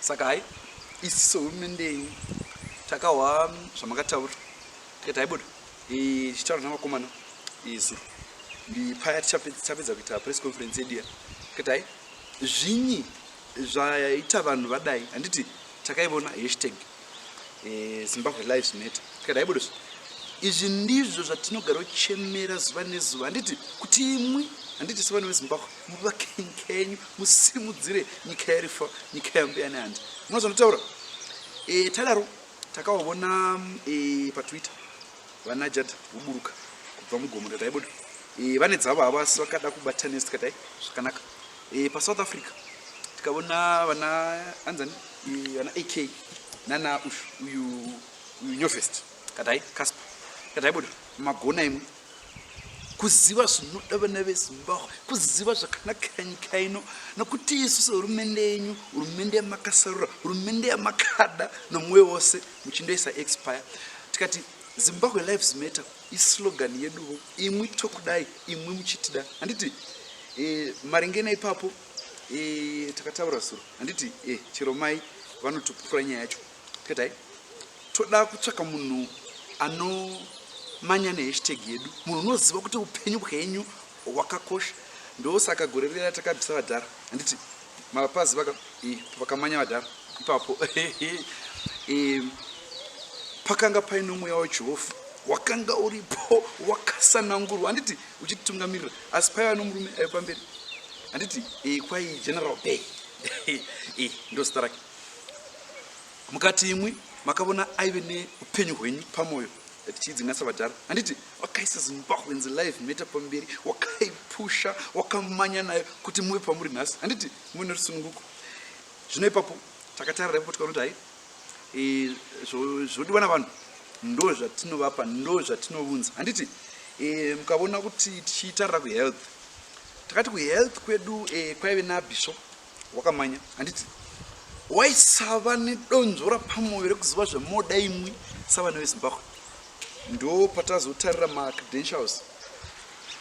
saka hai isi sehurumende yenyu takahwa zvamakataura tikati haibuda tichitaura navakomana zuro ndipaya tichapedza kuita press conference yedu ya tikati hai zvinyi zvaita vanhu vadai handiti takaivona hashtag eh, zimbabwe lives matter tikadai budo izvi ndizvo zvatinogara uchemera zuva nezuva handiti kuti imwi handiti sevana vezimbabwe muvakenkenyu musimudzire nyika yarifa nyika yambiyani handi muna zvanotaura e, eh, tadaro takavavona e, eh, patwitter vana jad voburuka kubva mugomo ndadai budo e, vane dzavo havasi vakada kubatanisa tikadai zvakanaka E, pa South Africa tikavona vana anzani e, vana AK nana ushu uyu uyu Nyovest kadai Casper kadai bodo magona imwe kuziva zvinoda vana vezimbabwe kuziva zvakanakira nyika ino nokuti isu sehurumende yenyu hurumende yamakasarura hurumende yamakada nomwoyo wose muchindoisa expire tikati Zimbabwe lives matter islogan yeduvo imwi tokudai imwi muchitida handiti e, maringe naipapo e, eh, takataura zuro handiti e, eh, chero mai vanotopupura nyaya yacho tikatai toda kutsvaka munhu anomanya nehashtag yedu munhu unoziva kuti upenyu bwenyu wakakosha ndosaka gore riya takabvisa vadhara handiti mapazi vaka eh, vakamanya vadhara ipapo eh, pakanga paine mweya wajehovha wakanga uripo wakasanangurwa handiti uchititungamirira asi paiva nomurume ayo pamberi handiti eh, kwai general bay ndozita rake mukati imwi makavona aive neupenyu hwenyu pamwoyo tichiidzinganisa vadhara handiti wakaisa zimbabweans live meta pamberi wakaipusha wakamanya nayo kuti muve pamuri nhasi handiti muine rusununguko zvino ipapo takatarira ipapo tikaona kuti hai e, zvodiwa navanhu ndo zvatinovapa ndo zvatinovunza handiti e, mukavona kuti tichitarira kuhealth takati kuhealth kwedu e, kwaive nabishop wakamanya handiti waisava nedonzvo rapamwoyo rekuziva zvemoda imwi savana vezimbabwe ndo patazotarira macredentials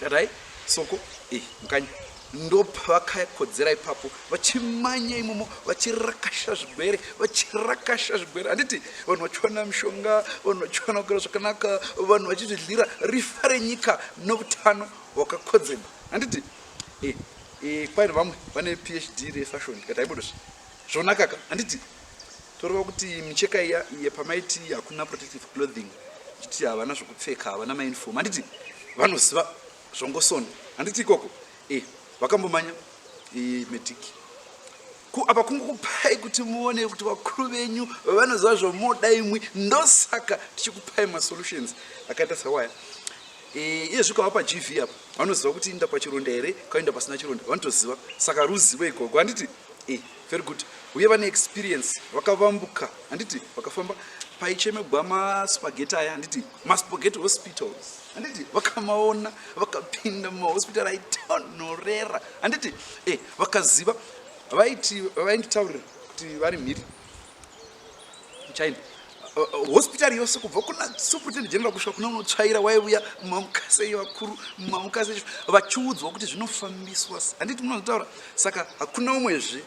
tatai soko e mukanya ndopavakakodzera ipapo vachimanya imomo vachirakasha zvigwere vachirakasha zvigwere handiti vanhu vachiwana mishonga vanhu vachiwana kugara zvakanaka vanhu vachizvidlira rifa renyika noutano hwakakodzerwa handiti Eh, eh, kwaino vamwe vane phd refashion ndikati haibodo zve zvonakaka handiti toreva kuti micheka iya iye pamaiti hakuna protective clothing chiti havana zvokupfeka havana mainfom handiti vanoziva zvongosona handiti ikoko eh, vakambomanya eh, mediki ku apa kungokupai kuti muone kuti vakuru venyu vanoziva zvomoda imwi ndosaka tichikupai masolutions akaita sawaya Eh, iye zvikava paGV apa vanoziva kuti inda pachironda here kainda pasina chironda vanotoziva saka ruzivo ikoko handiti e eh, very good uye vane experience vakavambuka handiti vakafamba paichemegwa maspageti aya handiti maspageti hospitals handiti vakamaona vakapinda mumahospital aitonorera handiti e eh, vakaziva vaiti vainditaurira kuti vari mhiri China uh, hospital yose kubva kuna superintendent general kusvika kuna unotsvaira waiuya mamukasei vakuru mamukasei vachiudzwa kuti zvinofambiswa handiti munozotaura saka hakuna umwezve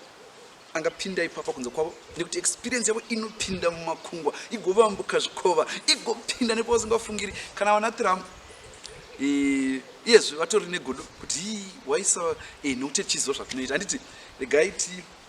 angapinda ipapa kunze kwavo nekuti experience yavo inopinda mumakungwa igovambuka zvikova igopinda nepo vasingafungiri kana vana trump iyezve vatori negodo kuti waisa eh, nekuti tichiziva zvatinoita handiti regai ti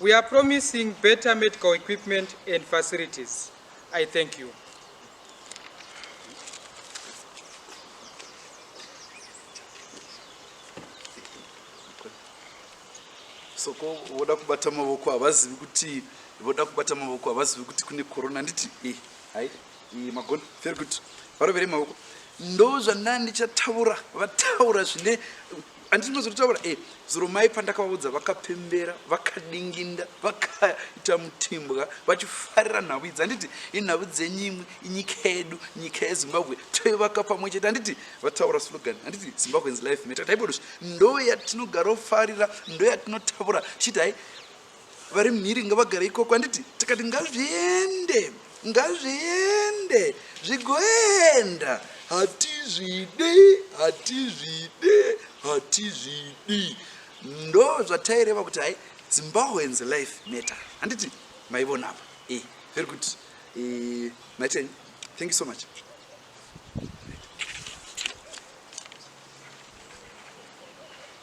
We are promising better medical equipment and facilities. I thank you. soko voda kubata mavoko havazivi kuti voda kubata mavoko havazivi kuti kune korona handiti eh, hai eh, magona very good varovere mavoko ndo zvandandichatavura vataura zvine anditi ndozotitaura e eh, zuro mai pandakavaudza vakapembera vakadinginda vakaita mutimbwa vachifarira nhau idzi handiti inhau dzenyu imwe inyika yedu nyika yezimbabwe toivaka pamwe chete handiti vataura slogan handiti zimbabweans life meta taibodos ndo yatinogarofarira ndo yatinotaura chiti hai vari mhiri ngavagare ikoko handiti tikati ngazviende ngazviende zvigoenda hatizvidi hatizvidi hatizvidi ndo zvataireva kuti hai zimbabweans life matter handiti maivona apa e eh, very good e, eh, maiten thank you so much